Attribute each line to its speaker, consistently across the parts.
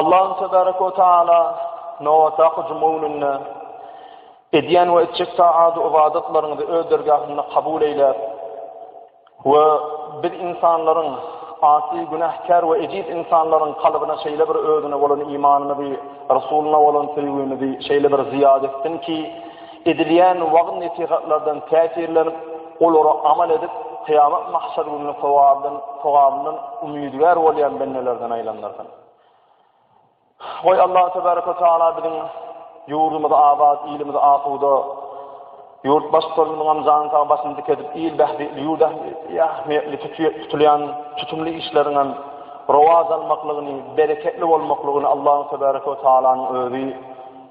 Speaker 1: Allahym tebarek we taala nobatdaky juma gününde edýän we etjek taat we ybadatlaryňyzy öz dergahynda kabul eýläp we biz insanlaryň asy günäkär we ejiz insanlaryň kalbyna şeýle bir özüne bolan imanymyzy, Resuluna bolan söýgimizi şeýle bir zyýat etsin ki, Edilýän wagyz-nesihatlardan täsirlenip, olara amal edip, kyýamat mahşer gününiň sogabydan, sogabyndan umydygär bolýan bendelerden aýlandyrsyn. Goý, Allahu tebaraka we taala biziň ýurdumyzy abat, ilimizi asuda, ýurt baştutanymyzyň hem jany sag, başyny dik edip, il bähbitli, ýurt ähmiýetli, ähmiýetli tutulýan tutumly işleriň hem rowaç almaklygyny, bereketli bolmaklygyny Allahu tebaraka we taalanyň özi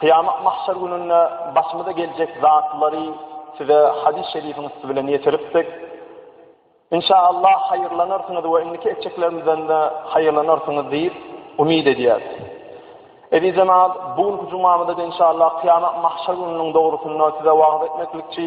Speaker 1: Kyýamat mahşer gününde başymyza geljek zatlary size hadys şerifiň üsti bilen ýetiripdik. Inşa Allah haýyrlanarsyňyz we indiki etjeklerimizden-de haýyrlanarsyňyz diýip umyt edýäs. Eziz jemaat, bu günki jumamyzda inşa Allah kyýamat mahşer gününiň dogrusynda size wagyz etmeklikçi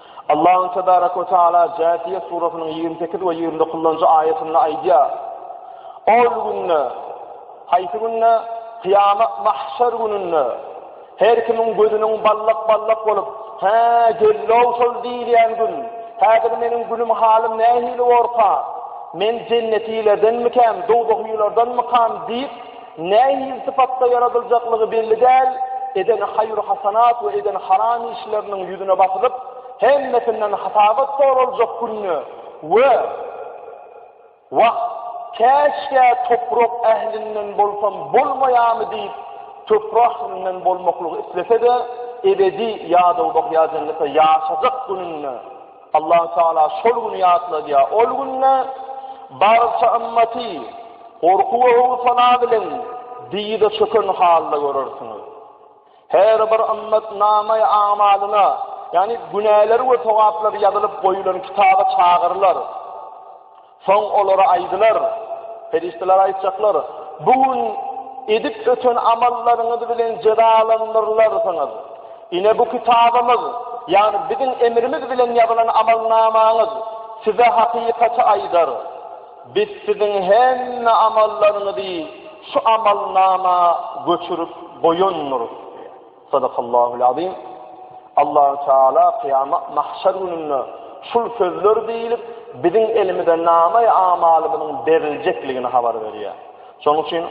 Speaker 1: Allahu tebarek we taala Jatiyet surasynyň ýigrimi sekiz we ýigrimi dokuzynjy aýatynda aýdýar. Ol günde, haýsy günde? Kyýamat mahşer gününde her kimiň gözüniň ballak-ballak bolup, "Hä, gellow şol diýilýän gün. Häzir meniň günüm halym nähili borka? Men jennetilerdenmikäm, dowzahylardanmykam?" diýip, Nähili sypatda ýaradyljaklygy belli däl, eden haýru-hasanat we eden haram işleriniň ýüzüne basylyp, hemmesinden hasabat soraljak günde we Wah, käşgä toprak ählinden bolsam bolmaýamy diýip, toprak ählinden bolmaklygy islese-de, ebedi ýadawlyk ýa jennetde ýaşajak gününde, Allah Taala şol güni ýatladýar. Ol günde barça ymmaty gorky we howsala bilen dyza çöken halda görersiňiz. Her bir ymmat namaý amalyna, ýagny günäleri we togaplary ýazylyp goýulan kitaba çagyrylar. Soň olara aýdylar, perişdeler aýtjaklar, Bu gün edip öten amallaryňyz bilen jezalandyrylarsyňyz. Ine bu kitabymyz, ýagny biziň emrimiz bilen ýazylan amalnamaňyz size hakykaty aýdar. Biz siziň hemme amallaryňyzy şu amalnama göçürip goýandyrys. Sadakallahul Azim. Allahu Teala kyýamat mahşer gününde şul sözler diýilip, biziň elimize namaý amalymyzyň beriljekligini habar berýär. Şonuň üçin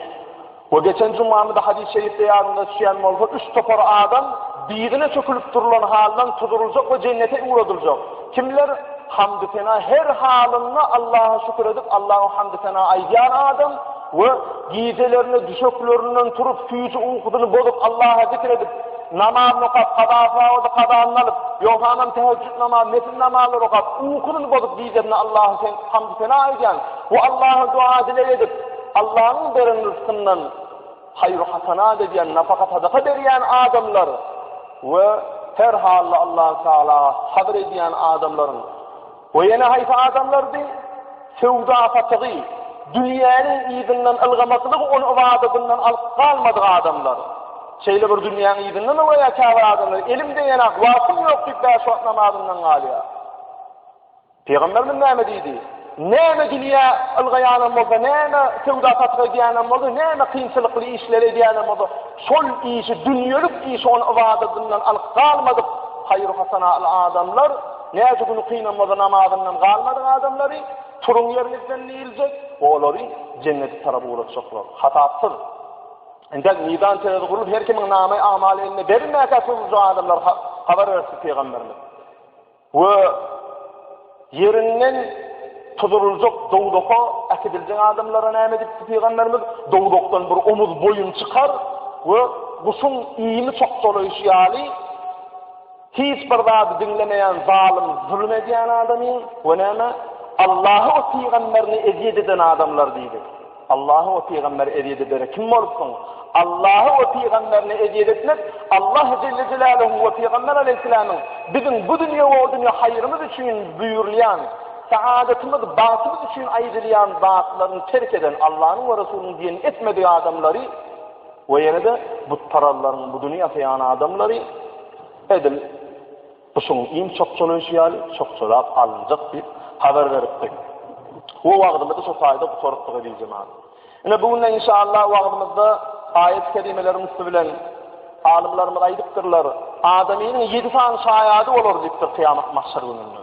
Speaker 1: we geçen jumamyzda hadys şerifde ýadyňyza düşýän bolsa, üç topar adam biýdine çökülip durulan haldan tuduryljak we jennete ugradyljak. Kimler? Hamdy sena her halynda Allaha şükür edip, Allaha hamdy sena aýdýan adam, We gijelerine düşeklerinden turup, süýji ukusyny bozup, Allaha zikr edip, namazyny okap, kaza-sawadyny kazanyny alyp, ýogsanam täheccüd namazy, nepil namazlary okap, ukusyny bozup, gijelerine Allaha sen, hamdy-sena edýän we Allaha doga-dileg edip, Allanyň beren rysgyndan haýru-hasanat edýän, nafaka-sadaka berýän adamlar we her hally Allahy Tagala sabyr edýän adamlaryň We ýene haýsy adamlardy? Söwda-satygy, dünýäniň yzyndan ylgamaklygy ony ybadatyndan alyp galmadyk adamlar. Şeýle bir dünýäň yzyndan we käbir adamlar elim degeni-ak, wagtym ýok diýip bäş wagt namazyndan galýar. Pygamberimiz näme diýdi? Näme dünýä ylgaýanam bolsa, näme söwda-satyk edýänem bolsa, näme kynçylykly işleri edýänem bolsa, şol işi dünýelik işi ony ybadatyndan alyp galmadyk haýyr-hasanatly adamlar Näce gün ukynamoza namazyndan galmadyk adamlary turuň ýeriňizden diýiljek we olary jennete tarap ugratjaklar. Hasapsyz. Indi mizan terezi gurlup her kimiň namaý amaly eline berilmäkä turuljak adamlar habar berdi pygamberimiz. We ýerinden tuzuruljak dowdaka äkidiljek adamlara näme edip pygamberimiz dowdakdan bir omuz boýun çykar we guşuň iými çokdalaýşy ýaly Hiç bir zady diňlemeýän zalym zulum edýän adamyň we näme? Allahy we pygamberini ezýet eden adamlar diýdi. Allahy we pygamberi ezýet edere kim bolupsyň? Allahy we pygamberini ezýet etmek Allah jelle jelaluhuň we pygamber aleýhissalamyň biziň bu dünýe we o dünýe haýrymyz üçin buýrulýan saadatymyz bagtymyz üçin aýdylýan zatlaryny terk eden Allanyň we resulynyň diýenini etmedik adamlary We ýene-de butparallaryň buduny ýasaýan adamlary edil guşuň iň çokçalaýşy ýaly çokçalap alynjak diýip habar beripdi. We wagzymyzy şo taýda gutarypdyk eziz jemaat. Ine bu günde inşallah wagzymyzda aýat kerimeleriň üsti bilen alymlarymyz aýdypdyrlar, adamynyň ýedi sany şaýady bolar diýipdir kyýamat mahşer gününde.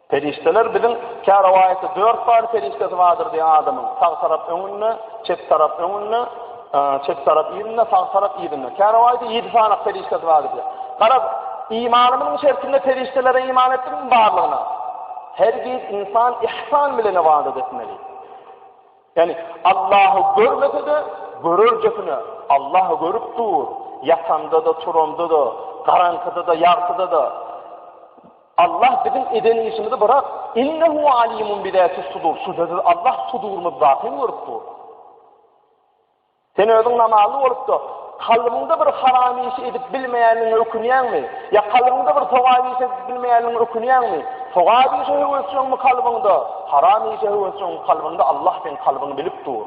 Speaker 1: Perişdeler biziň kä rowaýatda dört sany perişdesi bardyr diýen adamyň sag tarap öňünde, çep tarap öňünde, çep tarap yzynda, sag tarap yzynda. Kä rowaýatda ýedi sany perişdesi bardyr diýen. Garaz, imanymyzyň şertinde perişdelere iman etdikmi barlygyna? Hergiz insan ihsan bilen ybadat etmeli. Ýani Allahu görmese-de, görerjesine Allahu görüp dur. Ýatanda-da, turanda-da, garaňkyda-da, ýagtyda-da. Allah biziň eden işimizi bırak. İnnehu alimun bi zâtis sudur. Şübhesiz Allah sudurymyzdaky hem görüp dur. Sen özüň namazly bolup da kalbymda bir haram işi edip bilmeýänligiňe ökünýäňmi? Ýa kalbymda bir sogap işi edip bilmeýänligiňe ökünýäňmi? Sogap işe höwesjeňmi kalbymda? Haram işe höwesjeňmi kalbymda? Allah sen kalbyňy bilip dur.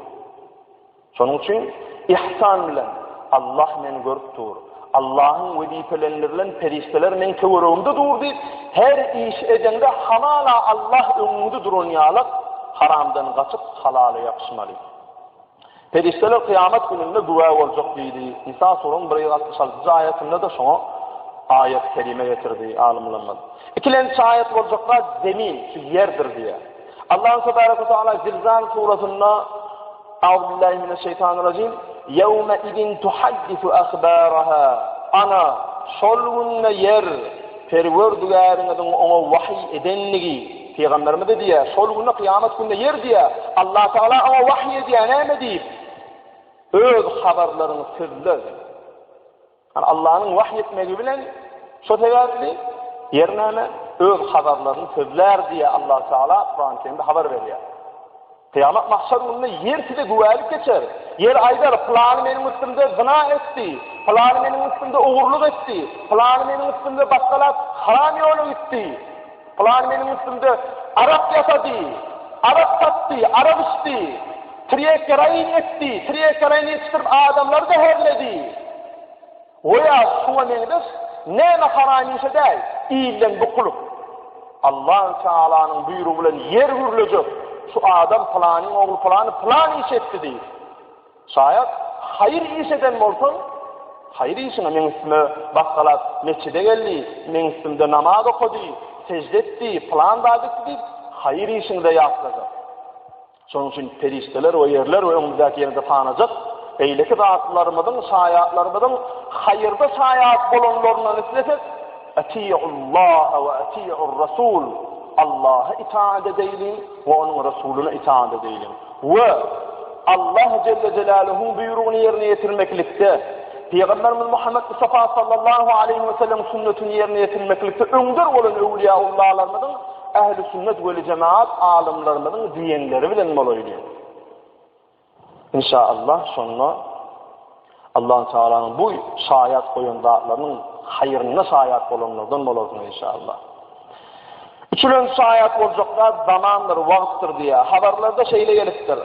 Speaker 1: Şonuň üçin yhsan bilen, Allah meni görüp dur, Allahyň wezipelendirlen perişdeler meň töweregimde dur diýip, her iş edeňde hamala Allah öňüňde duran ýaly haramdan gaçyp halala ýapyşmaly. Perişdeler kyýamat gününde güwä boljak diýdi. Nisa suruň 166-njy aýatynda-da şoňa aýat kelime getirdi alymlarymyz. Ikilen çaýat boljaklar zemin, şu ýerdir diýýär. Allahu tebaraka taala Zilzal surasynda Auzubillahi mineşşeýtanirrajim. Ýewme idin tuhaddisu ahbaraha. Ana, şol günde ýer Perwerdigäriňiziň oňa wahyý edendigi, pygamberimize diýýär, şol günde kyýamat günde ýer diýýär, Allah Tagala oňa wahyý edýär, näme diýip, Öz habarlaryňy sözle. Allanyň wahy etmegi bilen, şo sebäpli ýer näme? Öz habarlaryny sözlär diýýär Allah Tagala Kurany Kerimde habar berýär. Kyýamat mahşer gününde ýer size güwälik geçer. Ýer aýdar, pylany meniň üstümde zyna etdi, pylany meniň üstümde ogurlyk etdi, pylany meniň üstümde batgalat haram ýola gitdi. Pylan meniň üstümde arak ýasady, arak satdy, arak içdi, trýekeraýyn etdi, trýekeraýyn ýetişdirip adamlary zäherledi. Goýa şuňa meňzeş näme haram işe däl, ilden bukulyp. Allahu Taalanyň buýrugy bilen ýer gürlejek, şu adam pylanyň ogly pylany pylan iş etdi diýip. Şaýat, haýyr iş eden bolsaň, haýyr işiňe meň üstüme basgalak metjide geldi, meň üstümde namaz okady, sejde etdi, pylan zat etdi diýip, haýyr işiňde ýatlajak. Şonuň üçin perişdeler we ýerler we öňümizdäki ýene-de sanajak beýleki zatlarymyzyň, şaýatlarymyzyň haýyrda şaýat bolanlaryndan islesek, Atiýullaha we atiýur-rasul, Allaha itaat edeýliň we onuň Resulyna itaat edeýliň. We, Allah jelle jelaluhuň buýrugyny ýerine ýetirmeklikde, Pygamberimiz Muhammet Mustafa sallallahu aleýhi we sellem sünnetini ýerine ýetirmeklikde öňder bolan öwliýaullalarymyzyň, ähli sünnet weljemaat alymlarymyzyň diýenleri bilen bolaýly. Inşaallah şonda. Allahutaalaň bu şaýat goýan zatlarynyň haýryna şaýat bolanlardan bolarsyň inşallah. Üçülenji şaýat boljak zat zamandyr, wagtdyr diýýär. Habarlarda şeýle gelipdir.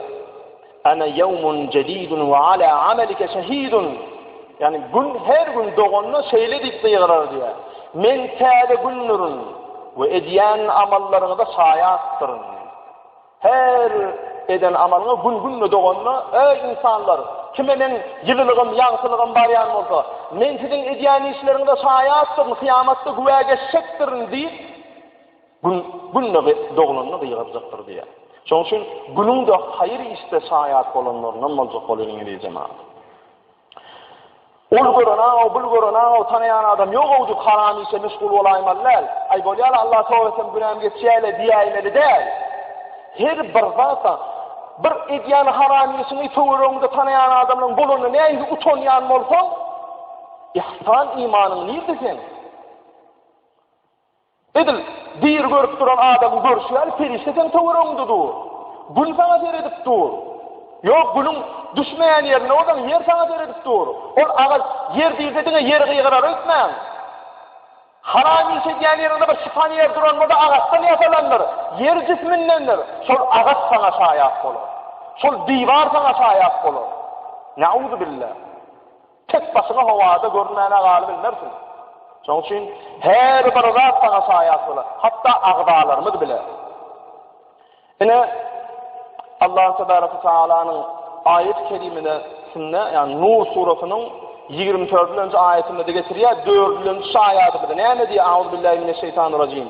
Speaker 1: Ana ýawmun jedidun we ala amalika şahidun. Yani gün her gün doganda şeýle diýip gygyrar diýär. Men täze gündürün we edýän amallaryňyza şaýatdyryn. Her eden amalyňa gün-günde doganyna, Eý, ynsanlar! Kime Meň ýylylygym, ýagtylygym barýan bolsa, Men siziň edýän işleriňize şaýatdyryn, kyýamatda güwä geçjekdirin diýip, gün-günde doglanyny gygyrjakdyr diýýär. Şonuň üçin günüň-de haýyr işde şaýat bolanlaryndan boljak bol, ey, ýene-de jemagat! Ol gören-aw, bul gören-aw, tanaýan adam ýog-ow diýip haram işe meşgul bolaýmaly däl. Aý bolýa-la, Allaha toba etsem günäm geçýä-le diýäýmeli däl. Her bir zat-a, bir edýän haram işiňi töweregiňde tanaýan adamlaryň bolanda nähili utanýan bolsaň, yhsan imanyň nirde seň? Edil, diri görüp duran adamyň görşi ýaly perişde seň töweregiňde dur. Gün saňa seredip dur. Ýok, günüň düşmeýän ýerinde bolsaň, ýer saňa seredip dur. Ol agaç ýer diýse diňe ýeri gygyrar öýtmäň. Haram iş edýän ýeriňde bir şypan ýer duran bolsa agaçdan ýasalandyr. Ýer jismindendir. Şol agaç saňa şaýat bolar. Şol diwar saňa şaýat bolar. Ne'uzubillah. Tek başyňa howada görünmäne galybilmersiň. Şonuň üçin her bir zat saňa şaýat bolar. Hatda agzalarymyz bile. Ine Allah tebaraka ve taalanyň aýat kerimine sünne, ýagny Nur surasynyň 24-nji aýatynda getirýär, 4-nji şaýady bilen näme diýýär? Auzubillahi mineşşeýtanirrajim.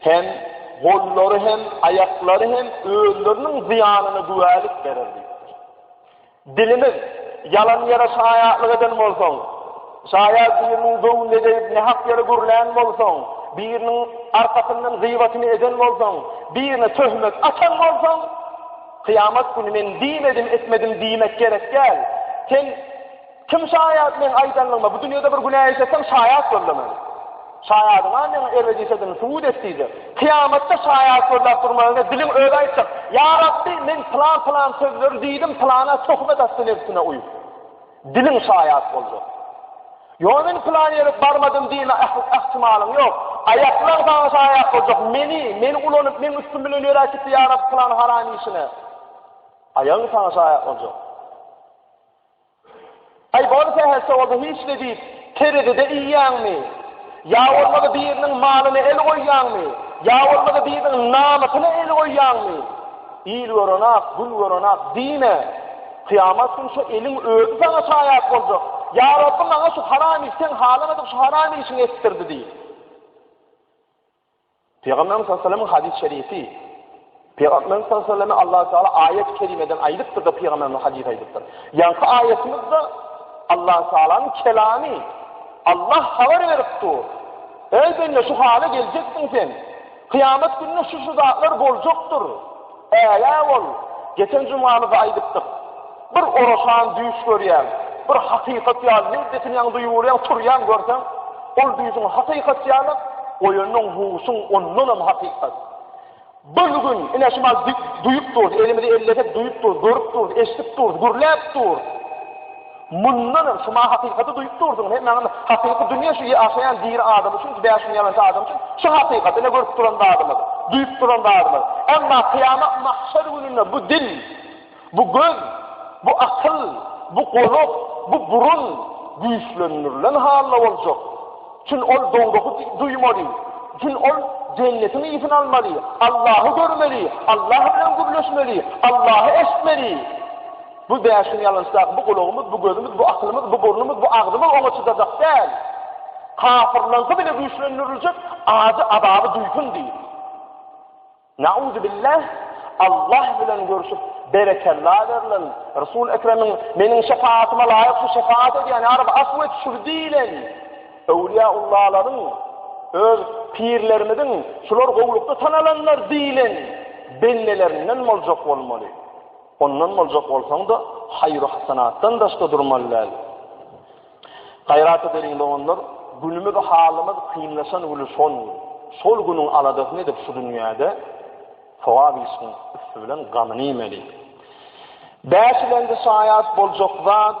Speaker 1: Hem gollary hem, aýaklary hem özleriniň zyýanyna güwälik berer diýipdir. Dilimiz, Ýalan ýere şaýatlyk eden bolsaň, şaýa biriniň göwnüne degip nähak ýere gürlän bolsaň, biriniň arkasyndan gyýbatyny eden bolsaň, birine töhmet atan bolsaň, kyýamat güni men diýmedim, etmedim diýmek gerek däl. Sen Kim şaýat meň aýdanlygyma bu dünýede bir günä işleseň şaýat bol diýmeli. Şaýadyňa meň ebedişedigini subut et diýdi. Kyýamatda şaýat gözläp durmagyňa diliň özi aýtjak. Ýa Rabbi, men pylan pylan sözleri diýdim, pylana töhmet atdy nebsine uýup. Diliň şaýat boljak. Ýok men pylan ýere barmadym diýme ähtimalyň ýok. Aýaklaň saňa şaýat boljak. Meni, meni ulanyp, meň üstüm bilen ýöräp gitdi ýa Rabbi pylan haram işine. Aýagyň saňa şaýat boljak. Aý, bol sähelçe bolsa hiç ne diýip, terezide iýýäňmi? Ýa bolmasa biriniň malyna el goýýaňmy? Ýa bolmasa biriniň namysyna el goýýaňmy? Il gören-ak, gün gören-ak diýme. Kyýamat güni şu eliň özi saňa şaýat boljak. Ýa Rabby, maňa şu haram iş, seň halamadyk şu haram işiňi etdirdi diý. Pygamberimiz sallallahu aleyhi ve sellem hadys şerifi Pygamberimiz sallallahu aleyhi ve sellem Allahu Teala ayet kerimeden aýdypdyr da Pygamberimiz hadys aýdypdyr. Ýaňky aýetimiz-de Allahu Teala'nyň kelamy Allah habar berip dur. Ey bende şu hala geljeksin sen. Kıyamet gününe şu şu zatlar boljakdyr. Bägä ol, geçen jumamyzda aýdypdyk. Bir oraşan düýş görýäň, bir hakykat ýaly ne betinýäň duýuberýäň, turýaň görseň, ol düýşüň hakykat ýaly, oýanyň huşuň ondanam hakykat. Bir gün ine şumal duýup durus, elimizi ellesek duýup durus, görüp durus, eşidip durus, gürläp durus. Mundan öň, şuma hakykaty duýup durdyň, hemme anda hakyky dünýe şu ýaşaýan diri adam üçin, bäş gün ýalançy adam üçin şu hakykat, ine görüp duran zadymyz, duýup duran zadymyz. Emma kyýamat mahşer gününde bu dil, bu göz, bu akyl, bu gulak, bu burun güýçlendirilen halda boljak. Çünki ol dowraky duýmaly, çünki ol jennetiň ýitini almaly, Allahy görmeli, Allah bilen gürleşmeli, Allahy eşitmeli. Bu bäşiň ýalançdaky bu gulagymyz, bu gözümiz, bu akylymyz, bu burnumyz, bu agzymyz oňa çydajak däl. Kafyrlaňky bile güýçlendiriljek, ajy azaby duýsun diýip. Nauzubillah, Allah bilen görüşüp, berekella berlen, Resul Ekremiň meniň şefaatyma laýyk şu şefaat edýän, ýa Rabbi afw et şu diýlen. Öwliyaullahalaryň öz pirlerimiziň şular gowlukda tanalanlar diýlen bendelerinden boljak bolmaly. Ondan boljak bolsaň-da, haýyr-hasanatdan daşda durmaly däl. Gaýrat edeliň, doganlar, günümiz, halymyz kynlaşan güni şol, şol günüň aladasyny edip şu dünýäde sogap işiň üsti bilen gamyny iýmeli. Bäşilenji şaýat boljak zat,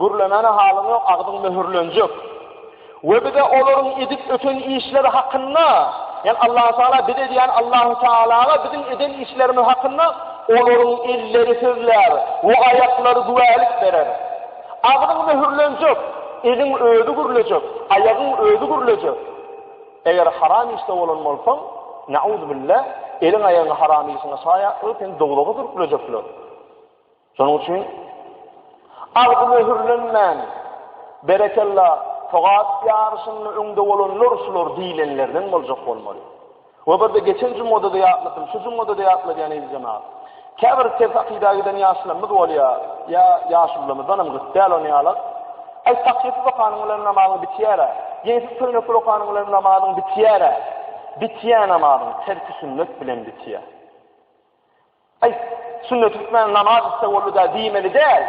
Speaker 1: Gürlemäne halyň ýok, agzyň möhürlenjek. We bize olaryň edip öten işleri hakynda, ýagny Allahu Teala bize diýýän Allahu Tealaga biziň eden işlerimiz hakynda olaryň elleri sözlär we aýaklary güwälik berer. Agzyň möhürlenjek, eliň özi gürlejek, aýagyň özi gürlejek. Eger haram işde bolan bolsaň, nauzubilla, eliň aýagyň haram işiňe şaýat bolup, seni dowzaha sürüklejekler. Şonuň üçin agzy möhürlenmän, Berekella, Togat ýaryşynda öňde bolanlar şular diýlenlerden boljak bolmaly. We bir-de geçen jumgada-da ýatladym, şu jumgada-da ýatladýan Eziz-jana. Käbir ters akyda giden ýaşlarymyz bolýar, ýa ýaşulylarymyzdan hem gyt däl ony ýalak. Aý, takýasyz okanyň bilen namazyň bitýär-ä. Ýeňsiz köýnekli okanyň bilen namazyň bitýär-ä. Bitýän namazyň terki sünnet bilen bitýär. Aý, şunda türkmen namaz isle boldy-da diýmeli däl.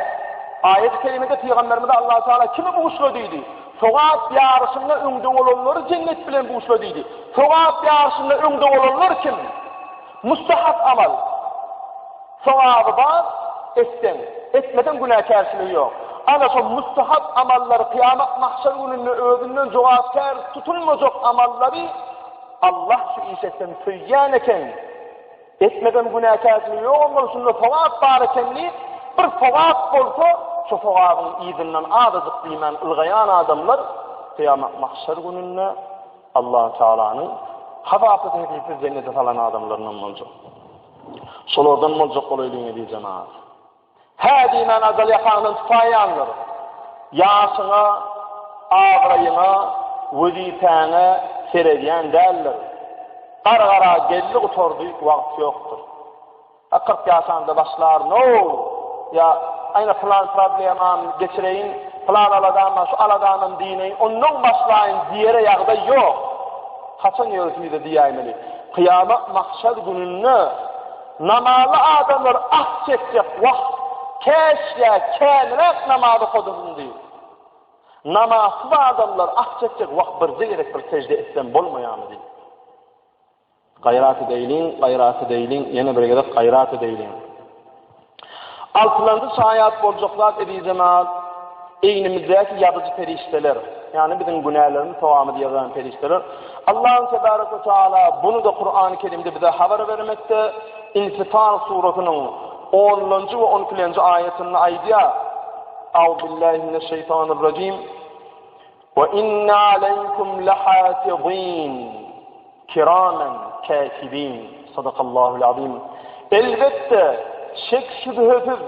Speaker 1: Aýat-y kerimede pygamberimize Allahu Teala kimi buşla diýdi? Sogap ýaryşynda öňde bolanlary jennet bilen buşla diýdi. Sogap ýaryşynda öňde bolanlar kim? Mustahap amal. Sogaby bar, etseň, etmeseň günäkärçiligi ýok. Ana şol mustahap amallary kyýamat mahşer gününde özünden jogapkär tutulmajak amallary Allah şu iş etseň söýýän eken. Etmeden günäkärçilik ýok onda şunda sogap bar eken diýip bir sogap bolsa şo sogabyň yzyndan azajyk diýmän ylgaýan adamlar kyýamat mahşer gününde Allah Taalanyň hazapsyz hesipsiz jennete salan adamlaryndan boljak. Şolardan boljak bolaýlyň eziz jemaat. Hä diýmän ajal ýatagyňdan tupaýýandyr. Ýaşyňa, abraýyňa, wezipäňe seredýän däldir. Gargara geldi gutardy, wagt ýokdur. A kyrk ýaşanda başlar, no, ýa aýna plan problemam geçireýin, plan aladam bar, şu aladamam diýneýin, ondan başlaýyn diýere ýagdaý ýok. Haçan ýörüsimize diýäýmeli. Kyýamat mahşer gününde Namazly adamlar ah çekjek wagt, käşgä käniräk namaz okadysym diýip, namazsyz adamlar ah çekjek wagt birje gezek bir sejde etsem bolmaýamy diýip. Gaýrat edeýliň, gaýrat edeýliň, ýene bir gezek gaýrat edeýliň. Altylanjy şaýat boljak zat ezizemal, egnimizdäki ýazyjy perişdeler, ýagny biziň günälerimizi, sogabymyzy ýazan perişdeler. Allahym tebarek we taala bunu-da Kurany Kerimde bize habar bermekde, Infitar surasynyň onlanjy we on ikilenji aýatynda aýdýar, Auzubillahimineşşeýtanirrajim. Ve inne aleykum lehafizin kiramen kâtibin. Sadakallahul azim. Elbetde, şek şübhesiz,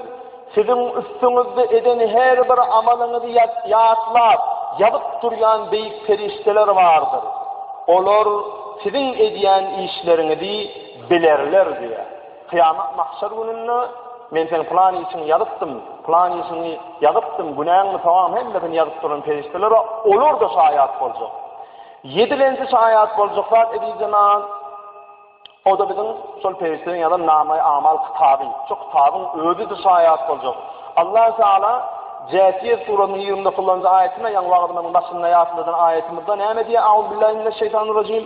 Speaker 1: siziň üstüňizde eden her bir amalyňyzy ýatlap, ýazyp durýan beýik perişdeler bardyr. Olar siziň edýän işleriňizi bilerler diýýär. Kyýamat mahşer gününde Men seň pylan işiňi ýazypdym, pylan işiňi ýazypdym, günäňi, sogabyňy hemmesini ýazyp duran perişdelere olar-da şaýat boljak. Ýedilenji şaýat boljak zat edijenan o-da biziň şol perişdeleň ýazan namaý amal kitaby. Şu kitabyň özi-de şaýat boljak. Allah Taala Jätiýe surasynyň 29-njy aýatynda ýaňy wagtymyň başynda ýatladan aýatymyzda näme diýýär? Auzubillahi mineşşeýtanirrejim.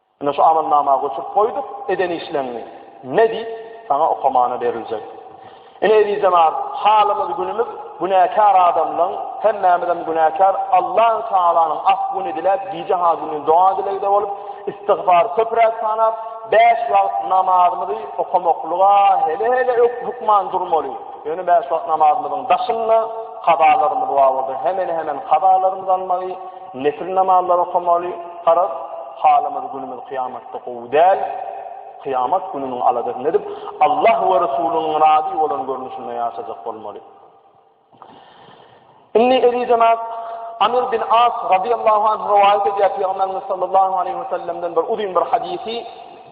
Speaker 1: Ine şu amalnama göçürip goýduk, eden işleňňi ne diýip, saňa okamana beriljek. Ine ezizemar, halymyz günümiz günäkär adamlaň, hemmämizem günäkär, Allan Tagalanyň af-güni diläp, gije ha gündin doga dilegde bolup, istigfar köpräk sanap, bäş wagt namazymyzy okamaklyga hele-hele ökde hökman durmaly. Ýöne bäş wagt namazymyzyň daşynda kazalarymyz bar bolsa, hemen-hemen kazalarymyzy almaly. Nefil namazlary okamaly, garaz, halymyz günümiz kyýamatda gowy däl, kyýamat gününiň aladasyny edip, Allah we Resulynyň razy bolan görnüşinde ýaşajak bolmaly. Indi eziz jemaat, Amir bin As radiyallahu anh rivayet edýär Peygamberimiz sallallahu aleyhi ve sellem'den bir uzun bir hadisi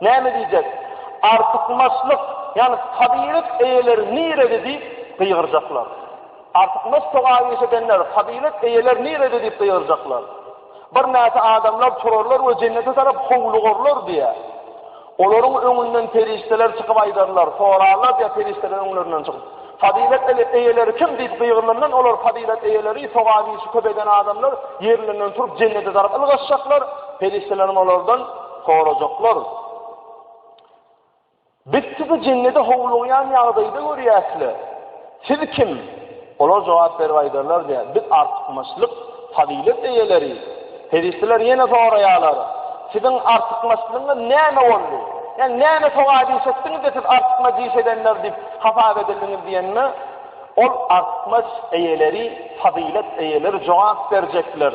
Speaker 1: Näme diýjek? Artykmaçlyk, ýagny fazylet eýeleri nirede diýip gygyrjaklar. Artykmaç togaýyş edenler, fazylet eýeleri nirede diýip gygyrjaklar. Birnäçe adamlar turarlar we jennete tarap howlugurlar diýýär. Olaryň öňünden perişdeler çykyp aýdarlar, sorarlar diýýär perişdeler öňlerinden çykyp. Fazylet eýeleri kim diýip gygyrylandan olar fazylet eýeleri, togaýşy köp eden adamlar ýerlerinden turup jennete tarap ylgaşjaklar, perişdeleriň olardan Sorajaklar, Biz sizi jennede howlugýan ýagdaýda görýäs-le, siz kim? Olar jogap berip aýdarlar, diýýär, Biz artykmaçlyk, fazylet eýeleri. Perişdeler ýene soraýarlar, Siziň artykmaçlygyňyz näme boldy? Ýagny näme sogap iş etdiňiz-de, siz artykmaç iş edenler diýip hasap edildiňiz diýende, ol artykmaç eýeleri, fazylet eýeleri jogap berjekler,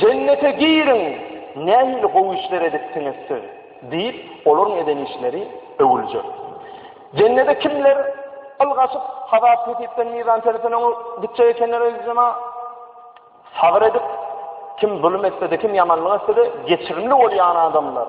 Speaker 1: Jennete giriň, nähili gowy işler edipsiňiz siz! diýip, olaryň eden işleri öwüljek. Jennede kimler yl gaçyp, hasap-hesipden, mizan-tertden öňe gitjek ekenler, eziz jema? Sabyr edip, kim zulum etse-de, kim ýamanlyk etse-de, geçirimli bolýan adamlar.